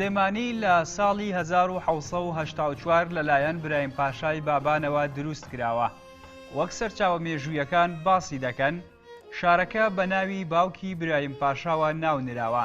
سلێمانی لە ساڵی 1970 لەلایەن برایم پاشای بابانەوە دروست کراوە وەک سەرچاوە مێژوویەکان باسی دەکەن شارەکە بە ناوی باوکی برایم پاشاوە ناونراوە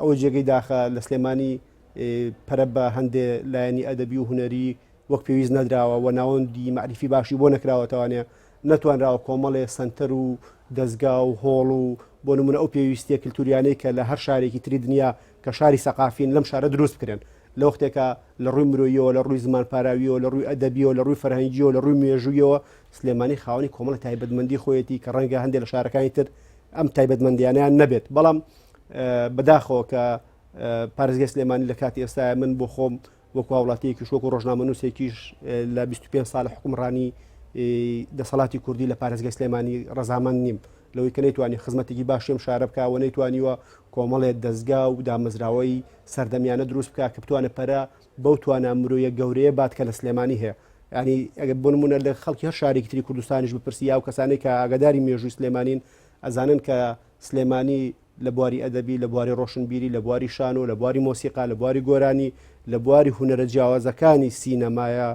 ئەوە جێگەی داخە لە سلێمانی پەرە بە هەندێ لایەنی ئەدەبی و هونەری وەک پێویست نەدراوە و ناوەندی مەعریفی باشی بۆ نەکراوەتەوانێ نەتوانراوە کۆمەڵێ سەنتەر و دەزگا و هۆڵ و بۆ نمونە ئەو پێویستیە کللتوریانەی کە لە هەر شارێکی تری دنیا کە شاری سەقافین لەم شارە دروست بکرێن لە وەختێکە لە ڕووی مرۆیەوە لە ڕووی زمان پاراویەوە لە ڕووی ئەدەبیەوە لە ڕووی فەرهەنگیەوە لە ڕووی مێژوویەوە سلێمانی خاوەنی کۆمەڵە تایبەتمەندی خۆیەتی کە ڕەنگە هەندێک لە شارەکانی تر ئەم تایبەتمەندیانەیان نەبێت بەڵام بەداخەوە کە پارێزگای سلێمانی لە کاتی ئێستاە من بۆ خۆم وەکو هاوڵاتیەکی شۆک و ڕۆژنامەنووسێکیش لە 25 سال حکومڕانی دەسەڵاتی کوردی لە پارێزگە سلێمانی ڕزامەند نیم لەوەی کە نەیتوانی خزمەتێکی باشم شارە بکە و نەیتوانیوە کۆمەڵێت دەستگا و دامەزراوەی سەردەمیانە دروست بکە کە بتوانە پەرە بەو توانا مرۆیە گەورەیە بات کە لە سلێمانی هەیە ینی ئەگە بۆ نمونە لە خەڵکی هەر شارێکی تری کوردستانیش بپرسی یا و کەسانی کە ئاگداری مێژووی سلێمانین ئەزانن کە سلێمانی لە بواری ئەدەبی لە بواری ڕۆشنبیری لە بواری شانۆ لە بواری مۆسیقا لە بواری گۆرانی لە بواری هوەرە جیاوازەکانی سینەمایە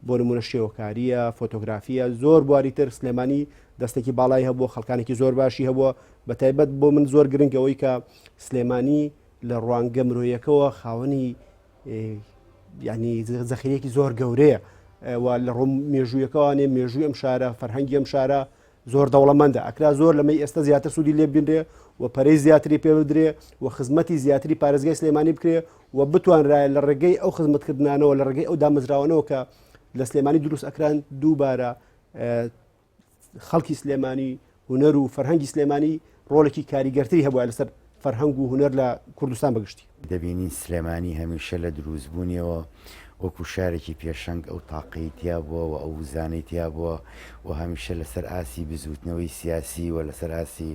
بۆ نمونە شێوەکاریە فۆتۆگرافیە زۆر بواری تر سلێمانی دەستێکی باڵای هەبوو خەڵکانێکی زۆر باشی هەبووە بە تایبەت بۆ من زۆر گرنگەوەی کە سلێمانی لە ڕوانگە مرۆیەکەوە خاوەنی یانی زەخیرێکی زۆر گەورەیە و لە ڕۆم مێژوویەکەوانێ مێژووی ئەم شارە فەرهەنگی ئەم شارە زۆر دەوڵەمەندە ئەکرا زۆر لەمەی ئێستا زیاتر سوودی لێ بینرێ و پەرەی زیاتری پێ بدرێ و خزمەتی زیاتری پارێزگای سلێمانی بکرێ و بتوانرایە لە ڕێگەی ئەو خزمەتکردانەوە لە ڕێگەی ئەو دامەزراوانەوە کە لە سلێمانی دروست ئەکران دووبارە خەڵکی سلێمانی هوەر و فەرهەنگی سلێمانی ڕۆلێکی کاریگەرتری هەبووە لەسەر فەرهەنگ و هوەر لە کوردستان بەگشتی دەبینین سلێمانی هەمیشە لە دروستبوونیەوە وەکو شارێکی پێشەنگ ئەو تاقەی تیا بووە و ئەو وزانەی تیا بووە و هەمیشە لەسەر ئاسی بزوتنەوەی سیاسی و لەسەر ئاسی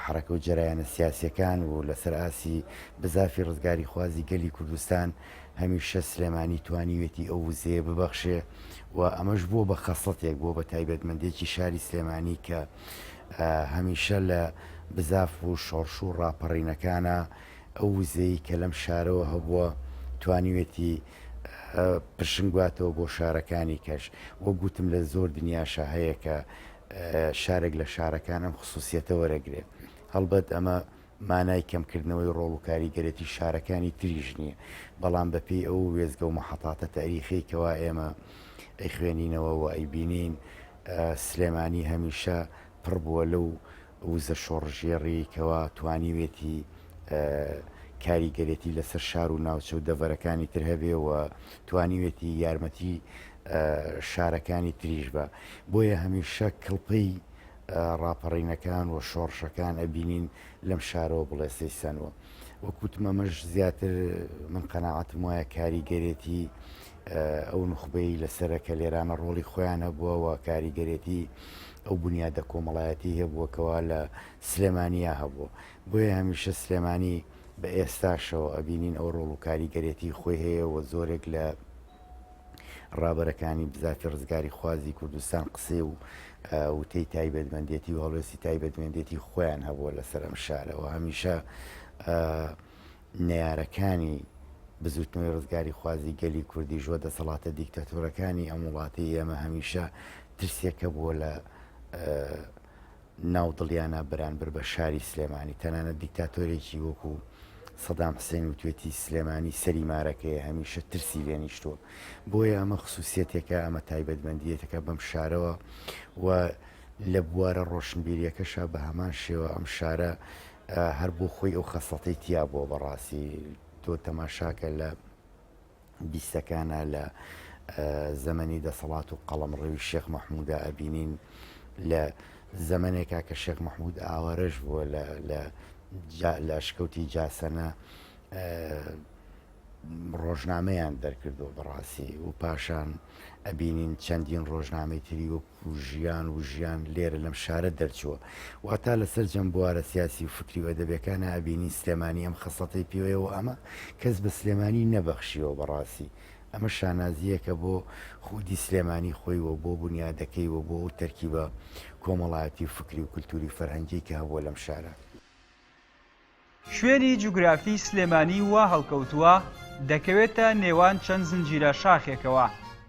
حرەکە و جەرایانە سیاسەکان و لەسەر ئاسی بزافی ڕزگاری خوازی گەلی کوردستان هەمیشە سلێمانی توانیوێتی ئەو وزەیە ببەخشێ و ئەمەش بووە بە خەسڵەتێک بووە بە تایبەتمەندێکی شاری سلێمانی کە هەمیشە لە بزاف و شۆڕش و ڕاپەڕینەکانە ئەو وزەی کە لەم شارەوە هەبووە توانیوێتی پرشنگواتەوە بۆ شارەکانی کەش وە گوتم لە زۆر دنیاشە هەیە کە شارێک لە شارەکان ئەم خصوصیەتە وەرەگرێت هەڵبەت ئەمە مانای کەمکردنەوەی ڕۆڵ و کاریگەرێتی شارەکانی تریش نییە، بەڵام بە پێی ئەو وێستگە و مەحەتاتە تاریخیەی کەوا ئێمە ئەیخوێنینەوە و ئەیبینین سلێمانی هەمیشە پڕ بووە لەو وزە شۆڕشگێڕی کەوا توانیوێتی کاریگەرێتی لەسەر شار و ناوچە و دەڤەرەکانی تر هەبێ و توانیوێتی یارمەتی شارەکانی تریش بە بۆیە هەمیشە کڵپەی ڕاپەڕینەکان و شۆڕشەکان ئەبینین لەم شارەوە بڵێسەی سەنوە وەک وتم ئەمەش زیاتر من قەناعەتم وایە کاریگەرێتی ئەو نوخبەی لەسرە کە لێرانە ڕۆڵی خۆیان هەبووەوە کاریگەرێتی ئەو بنیادە کۆمەڵایەتی هەبووەکەوە لە سلێمانیا هەبووە بۆیە هەمیشە سلێمانی بە ئێستاشەوە ئەبینین ئەو ڕۆڵ و کاریگەرێتی خۆی هەیە و زۆرێک لە ڕابەرەکانی بزاتی ڕزگاری خوازی کوردستان قسەی و وتەی تایبەتمەندێتی و هەڵوێستی تایبەتمەندێتی خۆیان هەبووە لەسەر ئەم شارەوە هەمیشە نارەکانی بزوتنەوەی ڕزگاری خوازی گەلی کوردی ژوە دەسەڵاتە دیکتاتۆرەکانی ئەم وڵاتی ئێمە هەمیشە ترسێکە بووە لە ناو دڵیانا بەرانبەر بە شاری سلێمانی، تەنانەت دیکتاتۆرێکی وەکو سەدام حسێن وتوێتی سلێمانی سەری مارەکەیە، هەمیشە ترسی لێ نیشتووە، بۆیە ئەمە خسوسیەتێکە، ئەمە تایبەتمەندیەتێکە بەم شارەوە و لە بوارە ڕۆشنبیریەکەشا بە هەمان شێوە ئەم شارە هەر بۆ خۆی ئەو خەسڵەتەی تیابووە، بەڕاستی تۆ تەماشاکە لە. بیستەکانە لە زەمەنی دەسەڵات و قەڵەمڕەوی شێخ مەحمودا ئەبینین لە زەمنێکا کە شێخ مەحمود ئاوارەش بووە لە شکەوتی جاسەنە ڕۆژنامەیان دەرکردو بەڕاستی و پاشان ئەبینین چەندین ڕۆژنامەی تری وەک و ژیان و ژیان لێرە لەم شارە دەرچووە. واتا لە سەرجەم بوارە سیاسی و فکری و ئەدەبیەکانا ئەبینین سلێمانی ئەم خەسڵەتەی پێوەیە و ئەمە کەس بە سلێمانی نەبەخشیوە بەڕاستی ئەمە شانازییەکە بۆ خودی سلێمانی خۆی و بۆ بونیادەکەی و بۆ ئەو تەرکیبە کۆمەڵایەتی و فکری و کلتوری و فەرهەنگیەی کە هەبووە لەم شارە. شوێنی جوگرافی سلێمانی وا هەڵکەوتووە، دەکەوێتە نێوان چەند زنجیرە شاخێکەوە،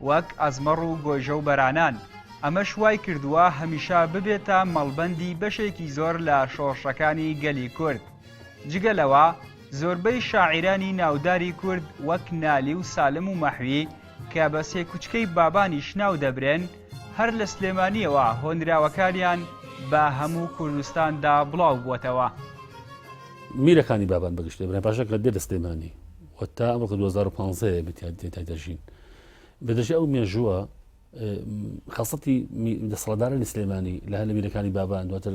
وەک، ئەزمەڕ و گۆیژە و بەرانان، ئەمەش وای کردووە هەمیشە ببێتە مەڵبەندی بەشێکی زۆر لە شۆڕشەکانی گەلی کورد. جگە لەوە، زۆربەی شاعیرانی ناوداری کورد وەک نالی و سالم و مەحوی، کە بە سێ کوچکەی بابانیش ناو دەبرێن، هەر لە سلێمانیەوە هۆنراوەکانیان بە هەموو کوردستاندا بڵاو بووەتەوە. میرەکانی بابان بە گشتی برای پاشا کە دێ لە سلێمانی و تا ئەمڕۆکە 2015 بتیان تێدا دەژین بەدەژی ئەو مێژووە خەسەتی دەسەڵدارانی سلێمانی لە هەلە میرەکانی بابان دواتر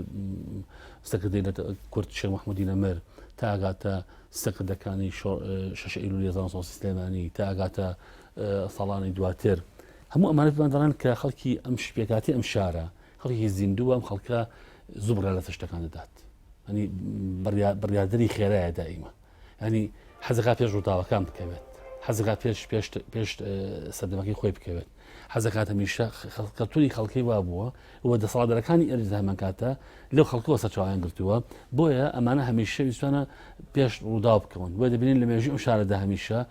سەکردی لە کورد شێ مححمودی نەمر تا ئاگاتە سەکردەکانی شەش ئیلو لێزان سۆسی سلێمانی تا ئاگاتە ساڵانی دواتر هەموو ئەمانە پێمان دەڵێن کە خەڵکی ئەم شپێکاتی ئەم شارە خەڵکی زیندوو ئەم خەڵکە زوو بڕا لەسە شتەکان دەدات ئەنی بڕیادری خێرایە دائیمە ئەنی حەزەکە پێش ڕووداوەکان بکەوێت حەزەکە پێش پێش پێش سەردەمەکەی خۆی بکەوێت حەزەکات هەمیشە خەڵکەتونی خەڵکی وا بووە و دەسەڵاتدەرەکانی ئەرز هەمان کاتە لەو خەڵکەوە سەرچوان گرتووە بۆیە ئەمانە هەمیشە ویستوانە پێش ڕوودا بکەون بۆ دەبینین لە مێژی ئەو شارەدا هەمیشە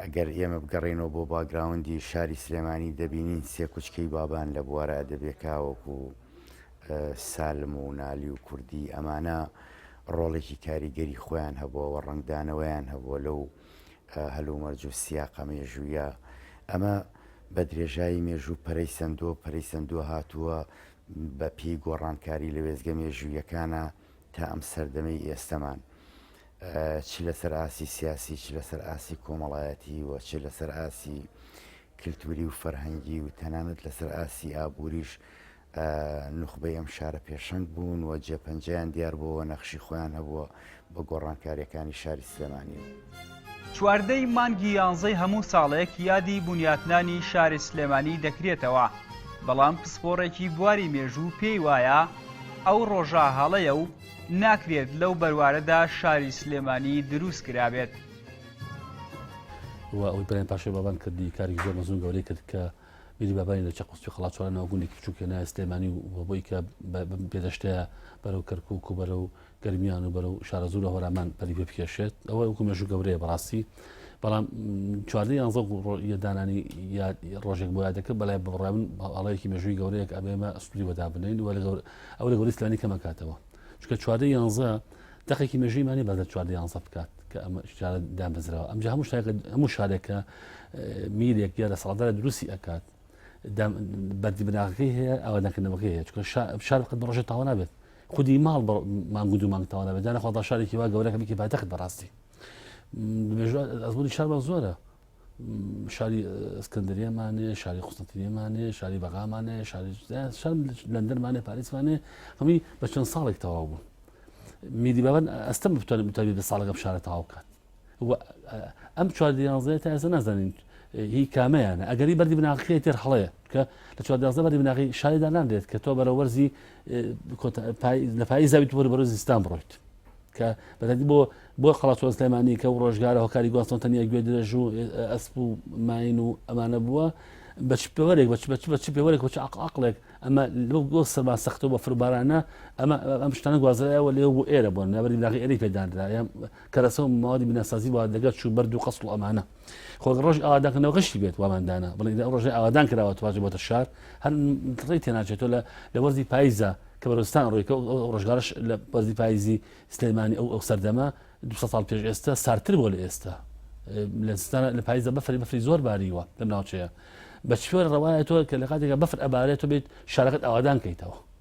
ئەگەر ئێمە بگەڕێینەوە بۆ باگراوندی شاری سلێمانی دەبینین سێ کوچکەی بابان لە بوارە ئەدەبێکاوەکو سالم و نالی و کوردی ئەمانە ڕۆڵێکی کاریگەری خۆیان هەبووە و ڕنگدانەوەیان هەبووە لەو هەلومەرج و سیاقە مێژوویە ئەمە بە درێژایی مێژوو پەرەی سندۆ پەرەی سندووە هاتووە بە پێی گۆڕانکاری لە وێزگە مێژوویەکانە تا ئەم سەردەمەی ئێستەمان چ لەسەر ئاسی سیاسی چ لەسەر ئاسی کۆمەڵایەتی و چ لەسەر ئاسی کللتوری و فەرهەنگی و تەنانەت لەسەر ئاسی ئابووریش نخبەی ئەم شارە پێشەنگ بوون و جێپەنجیان دیار بۆەوە نەخشی خۆیان هەبووە بە گۆڕانکاریەکانی شاری سلێمانی. چواردە ی مانگی یانزەی هەموو ساڵێک یادی بونیاتنانی شاری سلێمانی دەکرێتەوە، بەڵام پسپۆڕێکی بواری مێژوو پێی وایە، ئەو ڕۆژە هەڵەیە و ناکرێت لەو بەروارەدا شاری سلێمانی دروست کرابێت. و ئەوەی پەرەیان پاشای بابان کرد دی کارێکی زۆر مەزن و گەورەی کرد کە بیری بابانی لە چەقوستی خەڵاتچوارە ناو گوندێکی بچووکێ نایە سلێمانی و بۆی کە بە بێدەشتەیە بەرەو کەرکک و بەرەو گەرمیان و بەرەو شارەزوو لە هۆرامان پەری پێ بکێشێت ئەوە وەکو مێژوو گەورەیە بەڕاستی بەڵام چواردە یانزە یەدانانی ڕۆژێک بۆ یادەکە بەلای بڕێن ئەڵەیەکی مێژووی گەورەیەک ئەبێمە ئەسپری وەدا بنین وە ئەو لە گەوری سلانی کەمەکاتەوە چکە چواردە یانزە دقێکی مێژیمانی بەدە چواردە یانزە بکات کە ئەمە شارە دامەزرەوە ئەمجا هەموو شتێکە هەموو شارێکە میرێک یا لە سەڵدار دروستی ئەکات بەردی بناغەکەی هەیە ئاوادانکردنەوەکەی هەیە چکە شار قەت بڕۆژە تاوە نابێت خودی ماڵ بە مانگ و دوو مانگ تەواو نابێت جارە خۆڵدا شارێکی وا گەورەکە بکی پاتەخت بەڕاستی دمێژوار ئەزمموی شارمان زۆرە شاری ئەسکەندریەمانێ شاری قوستنتریەمانێ شاری بەغامانێ شاری شار لەندەرمانێ پاریسمانێ هەمووی بە چەند ساڵێک تەواو بوون میدی بابەن ئەستەم بتوانێت بتوانێت بە ساڵەکەم شارە تاوا بکات و ئەم چوار دیانزەیە تا ئێستا نازانین هی کامەیانە ئەگەری بەری بناغەکەی تێر هەڵەیە کە لە چوار دیانزە بەری بناغی شاریدا نامرێت کە تۆ بەرە وەرزی لە پای زاوی پۆری بەرە زیستان بڕۆیت کە بەدی بۆ بۆ خلاصۆ سلێمانی کە و ڕۆژگارە هۆکاری گواستۆن تەنیا گوێ درێژ و ئەسپ و ماین و ئەمانە بووە بەچ پێوەرێک بەچ بەچ بەچ پێوەرێک بەچ عقلێک ئەمە لەو گۆ سەما سەختەوە فبارانە ئەمە ئەم شتانە گوازرایەوە لێ بۆ ئێرە بۆن نابری لاغی ئەری پێدانرا کەرەسە و مەوادی بیناسازی بۆ ئاردەگە چوو بەر دوو قەسڵ و ئەمانە خۆ ڕۆژ ئاوادانکردنەوە غشتی بێت واماندانا بڵێ ئەو ڕۆژێ ئاوادان کراوە تواژە بۆتە شار هەر ڕێی تێناچێتەوە لە لە وەرزی پاییزە کە بەرستان ڕێکە ڕۆژگارش لە وەرزی پاییزی سلێمانی ئەو ئەو سەردەمە دو ساڵ پێش ئێستا سارتر بۆ لە ئێستا لە ستانە لە پاییزە بەفری بەفری زۆر باریوە لەم ناوچەیە بە چێوە ڕەوایەتەوە کە لە کاتێکە بەفر ئەبارێتەوە بێت شارەکەت ئاوادان کەیتەوە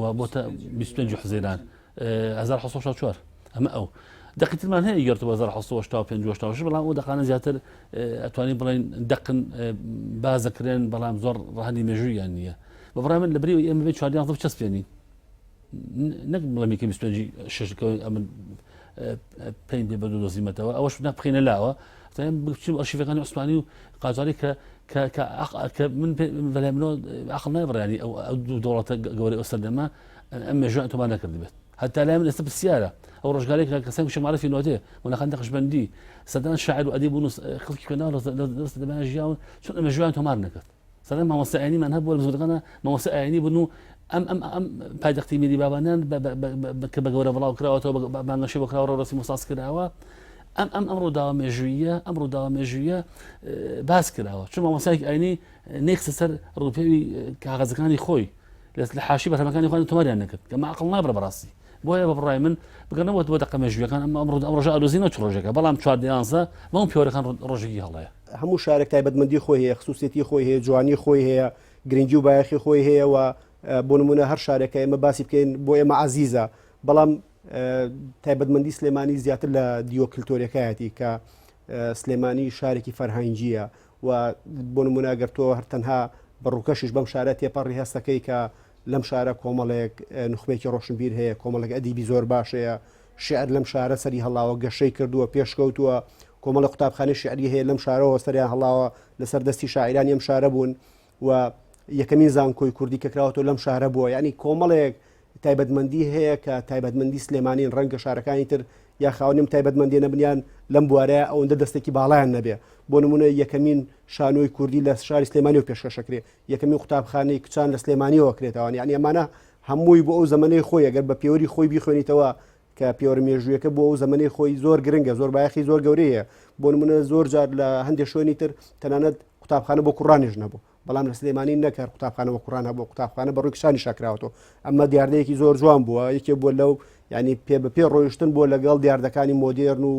و بۆتە 25 حزێران 1964 ئەمە ئەو دقی ترمان هەیە گەرت بە 1970 بەڵام ئەو دەقانە زیاتر ئەتوانی بڵێن دەقن بازەکرێن بەڵام زۆر ڕهنی مێژوویان نییە بە بڕای من لە بری ئێمە بێ چواردیان چەسپێنی نەک بڵێ میکە 25 شش ئەمن پێی بێ بەدو دۆزیمەتەوە ئەوەش نە بخینە لاوە بچم ئەشیفەکانی عوسمانی و قازاری کە کە من بەلای منەوە عقل نابڕانی ئەو دوو دەوڵەتە گەورە ئەو سەردەمە ئەم مێژوان تۆما نەکردبێت هەتا لای من ئێستا پرسیارە ئەو ڕژگارێک کەسان شمارەفی نۆتێ وەنەخان دەخشبندی سەدان شاعر و ئەدی بوون خڵکی کەناڵ دەمان ژیاون چون ئەمە ژیان تۆمار نەکرد سەرەتا مامۆستا ئاینیمان هەبوو لە بزوتنەکاندا مامۆستا ئاینی بوون و ئەم ئەم ئەم پایتەختی میری بابانیان کە بە گەورە بڵاو کراوەتەوە بانگەشەی بۆ کراوە ڕۆسی مۆساس کراوە ئەم ئەم ئەم ڕووداوە مێژوویە ئەم ڕووداوە مێژوویە باس کراوە چون مامۆسایك ئاینی نێکسە سەر ڕوپێوی کاغەزەکانی خۆی لە حاشی بەرهەمەکانی خۆیان تۆماریان نەکرد کە ماقڵ نابرە بەڕاستی بۆیە بە بڕای من بگەنەوە دووە دەقە مێژویەکان ئەم ئەمڕۆ ئەم ڕژە ئالۆزی نەچ ڕۆژێکە بەڵام چوار دیانزە بەم پیۆرەکان ڕۆژێکی هەڵەیە هەموو شارێک تایبەتمەندی خۆی هەیە خصوصێتی خۆی هەیە جوانی خۆی هەیە گرنگی و بایەخی خۆی هەیە و بۆ نمونە هەر شارێکە ئێمە باسی بکەین بۆ ئێمە عزیزە بەڵام تایبەتمەندی سلێمانی زیاتر لە دیوە کللتۆرەکایەتی کە سلێمانی شارێکی فەرهەنگیە و بۆ نموونە گەر تۆ هەر تەنها بە ڕووکەشیش بەم شارە تێپەڕی هەست دەکەی کە لەم شارە کۆمەڵێک نوخبەیەکی ڕۆشنبیر هەیە، کۆمەڵێک ئەدیبی زۆر باش هەیە، شیعر لەم شارە سەری هەڵاوە، گەشەی کردووە، پێشکەوتووە، کۆمەڵێک قوتابخانەی شیعری هەیە لەم شارەوە سەریان هەڵاوە، لەسەر دەستی شاعیرانی ئەم شارە بوون. و یەکەمین زانکۆی کوردی کە کراوەتەوە لەم شارە بووە یعنی کۆمەڵێک تایبەتمەندی هەیە کە تایبەتمەندی سلێمانین ڕەنگە شارەکانی تر یا خاونم تایبەتمەندی نەبنیان لەم بوارەیە ئەوەندە دەستێکی باڵیان نەبێ بۆ نمونە یەکەمین شانۆی کوردی لە شاری سلێمانی و پێشکەشەکرێ یەکەمین قوتابخانەی کچان لە سلێمانیەوە کرێتەوەوان یعنی ئەمانە هەمووی بۆ ئەو زمانی خۆی ئەگەر بە پێوەری خۆی بیخوێنیتەوە کە پێوەرە مێژوویەکە بۆ ئەو زەمەەی خۆی زۆر گرنگە زۆر بایەخی زۆر گەورەیە بۆ نمونە زۆر جار لە هەندێک شوێنی تر تەنانەت قوتابخانە بۆ کوڕانیش نەبوو بەڵام لە سلێمانی نەکار قوتابخانە بۆ کوڕان هەبوو قوتابخانە بە ڕووی شانی شاکراوەوە ئەمە دیاردەیەکی زۆر جوان بووە یەکێ بۆ لەو ینی پێ بە پێ ڕۆیشتن بۆ لەگەڵ دیاردەکانی مۆدێرن و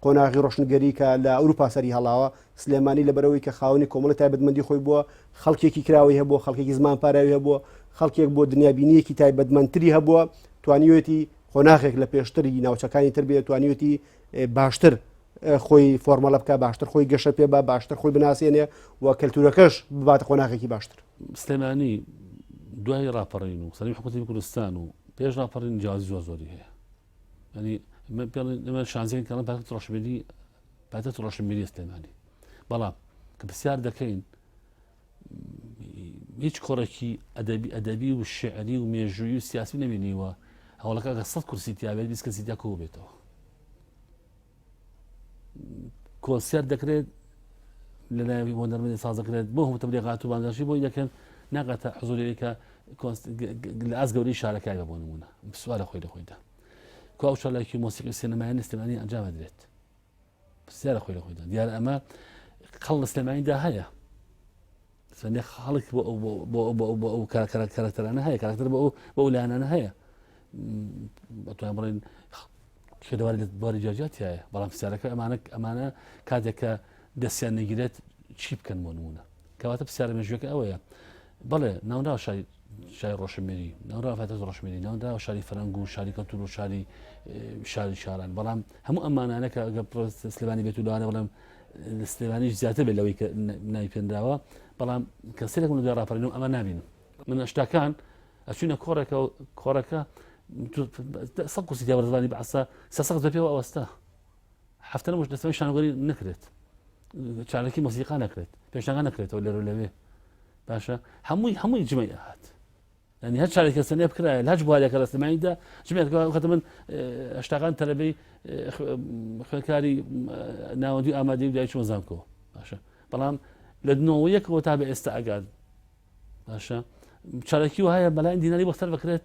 قۆناغی ڕۆشنگەری کە لە ئەوروپا سەری هەڵاوە سلێمانی لەبەرئەوەی کە خاوەنی کۆمەڵی تایبەتمەندی خۆی بووە، خەڵکێکی کراوەی هەبووە، خەڵکێکی زمان پاراوی هەبووە، خەڵکێک بووە دنیابینییەکی تایبەتمەندتری هەبووە، توانیوێتی قۆناغێک لە پێشتر ی ناوچەکانی تر بێ، توانیوێتی باشتر خۆی فۆرمەڵە بکا، باشتر خۆی گەشە پێ با، باشتر خۆی بناسێنێ و کەلتوورەکەش بباتە قۆناغێکی باشتر. سلێمانی دوای ڕاپەڕین و سەرەوی حکوومەتی کوردستان و پێش ڕاپەڕین جیازی زۆر زۆری هەیە. ینی پێڵێن ئێمە شانزیان کەڵم پاکت ڕەشبێدی پایتەخت ڕۆشنبیری سلێمانی بەڵام کە پرسیار دەکەین هیچ کۆڕێکی ئەدەبی ئەدەبی و شعری و مێژووی و سیاسی نەبینیوە هەوڵەکە گە سەد کورسی تیاێت بیست کەسی تیا کۆ بێتەوە کۆنسیار دەکرێت لە ناوی بۆ نەرمەی سازەکرێت بۆ هەمتە لێغات و بانگەشی بۆی دەکەن ناگاتە حزورەکە لە ئاز گەوری شارەکە بە بۆ نمونە سوارە خۆی لە خۆیدا کو ئەو چالاکی مۆسیقی سینەمایە لە سلێمانی ئەنجام بدرێت پرسیارە خۆی لە خۆیدا دیارە ئەمە قەڵ لە سلێمانیدا هەیە سەنێ خاڵک بۆ ئەو کارکتەرانە هەیە کارکتەر بۆ بۆ لایەنانە هەیە بەتوان بڵێن شێدەواری لە باری جاجاتایە بەڵام پرسیارەکە ئەمانە ئەمانە کاتێکە دەستیان نەگیرێت چی بکەن بۆ نمونە کەواتە پرسیارە مێژوەکە ئەوەیە بەڵێ ناونرا شاری شای ڕۆشنبیری ناونرا فاتەز ڕۆشنبیری ناونراوە شاری فەرەنگ و شاری کەلتور و شاری شاری شاران بەڵام هەموو ئەمانانە کە ئەگە سلێبانی بێت و لەوانە بەڵام لە سلێبانیش زیاتر بێت لەوەی کە ناوی پێنراوە بەڵام کەسێک من دوێ ڕاپەرین و ئەمە نبینم من ئەشتاکان ئەچینە کۆڕێکە کۆڕەکە سە قوسی دیاوەزانی بەعسا سەسەق دەپێەوە ئەوەستا هەفتە نەبووش دەتوانین شانۆگەری نەکرێت چارەکی مۆسیقا نەکرێت پێشنگا نەکرێتەوە لێرە لەوێ باشە هەمووی هەمووی جمەی ئەهات ینی هەر چارێکە سنێ بکرای لەج بوارێکە لە سلماییدا جمێکخەت من هەشتاکان تەلەبەی خوێنکاری ناوەندی ئامادەی دای چۆن زانکۆ باشە بەڵام لە دنەوە یەکەوە تا بە ئێستا ئەگات باشە چارەکی وهەیە بەلاین دیناری بەختەر بکرێت